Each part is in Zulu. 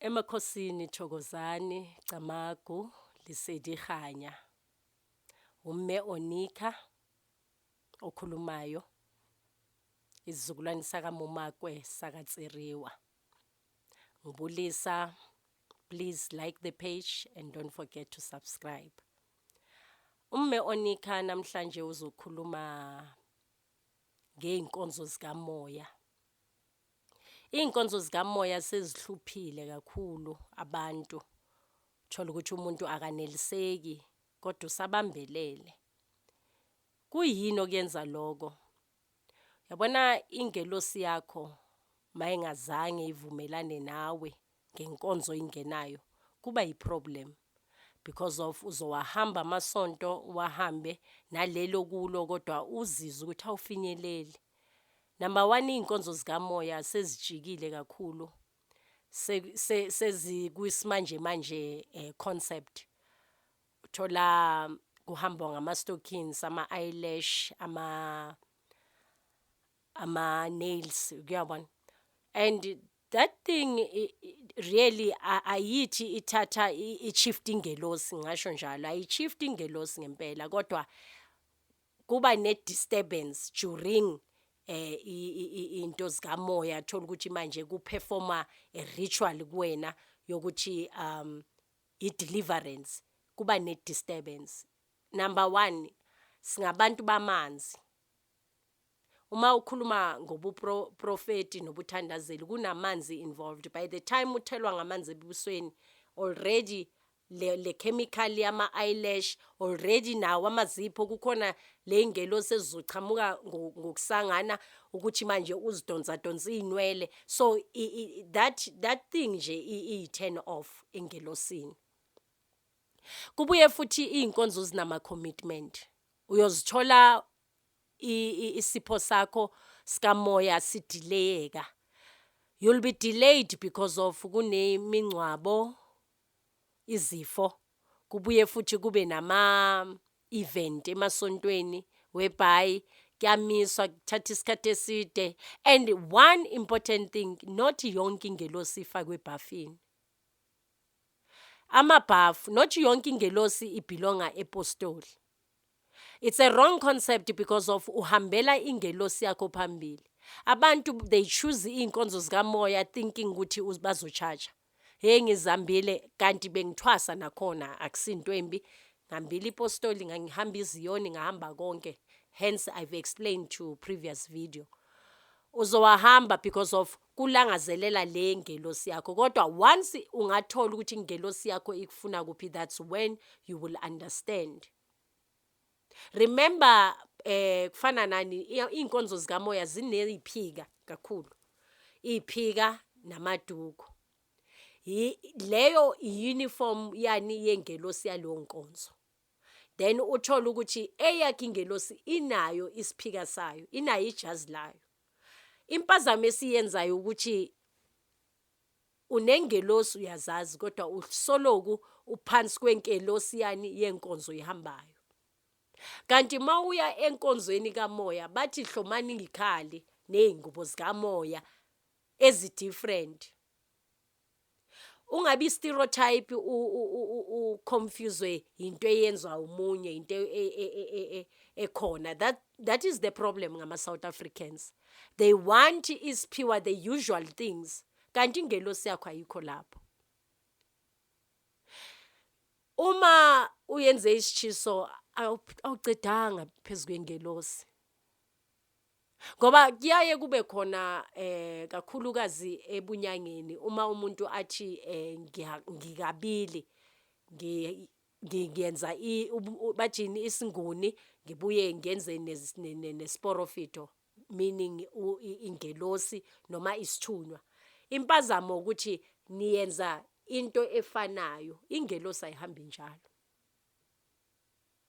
Emakhosini Thokozani Camagu Lesedi Kganya, uMme Onika okhulumayo, isizukulwane sakaMumakwe sakaTsiriwa. Ngibulisa, please like the page and don't forget to subscribe. UMme Onika namhlanje uzokhuluma ngey'nkonzo zikamoya. Iy'nkonzo zikamoya sezihluphile kakhulu abantu, uthole ukuthi umuntu akaneliseki kodwa usabambelele. Kuyini okuyenza loko? Yabona ingelosi yakho mayingazange ivumelane nawe ngenkonzo oyingenayo kuba yi problem because of uzowahamba amasonto uwahambe naleli okulo kodwa uzizwe ukuthi awufinyeleli. Number one iy'nkonzo zikamoya sezijikile kakhulu sezikwismanjemanje um concept. Uthola kuhambwa ngama-stockings, ama-eyelash, ama-nails kuyabona and that thing really ayithi ithatha i-shift ingelosi ngasho njalo ayi-shift ingelosi ngempela kodwa kuba ne-disturbance during eh into zikamoya thola ukuthi manje kuperforma a ritual kuwena yokuthi um i-deliverance kuba ne-disturbance number 1 singabantu bamanzi Uma ukhuluma ngobuprofeti nobuthandazeli kunamanzi involved by the time uthelwa ngamanzi ebusweni already le, le chemical yama eyelash already nawo amazipho kukhona le ngelo sezizochamuka ngokusangana ukuthi manje uzidonsa donsa inwele so i, i, that that thing nje i turn off engelosini kubuye futhi izinkonzo zinama commitment uyozithola isipho sakho sikamoya sidileyeka you'll be delayed because of kunemingcwabo izifo kubuye futhi kube nama event emasontweni whereby kuyamiswa kuthatha isikhathi eside and one important thing not yonke ingelosi ifakwe ebhafini amabhafu not yonke ingelosi ibhilonga epostoli It's a wrong concept because of uhambela ingelosi yakho phambili. Abantu they choose iy'nkonzo zikamoya thinking ukuthi bazotshaja. Hheyi ngizihambile kanti bengithwasa nakhona akusinto embi. Ngihambile ipostoli ngangihamba iziyoni ngahamba konke. Hence I've explained to previous video. Uzowahamba because of kulangazelela le ngelosi yakho kodwa once ungathola ukuthi ingelosi yakho ikufuna kuphi that's when you will understand remember eh kufana nani inkonzo zikamoya zineziphika kakhulu iphika namaduku leyo uniform yani yengelosi yaleyo nkonzo then uthola ukuthi eyakhe ingelosi inayo isiphika sayo inayo ijazi layo Impazamo esiyenzayo ukuthi unengelosi uyazazi kodwa usoloku uphansi kwenkelosiyani yenkonzo ihambayo. Kanti mawuya enkonzweni kamoya bathi hlomani ngikhali nezingubo zikamoya ezi different. ungabi stereotype u confuse into eyenzwa umunye into e, e, e, ekhona that that is the problem ngama South Africans they want isiphiwa the usual things kanti ingelosi yakho ayikho lapho uma uyenze isitshiso awucedanga phezu kwengelosi Ngoba kuyaye kube khona eh kakhulukazi ebunyangeni uma umuntu athi eh ngikabili ngiyenza bathini isinguni ngibuye ngenze nesporofito meaning ingelosi noma isithunywa impazamo ukuthi niyenza into efanayo ingelosi ayihambi njalo.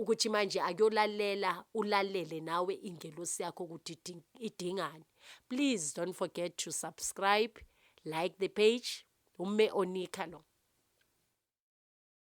ukuthi manje akuyolalela ulalele nawe ingelosi yakho ukuthi idingani please don't forget to subscribe like the page umme onika lo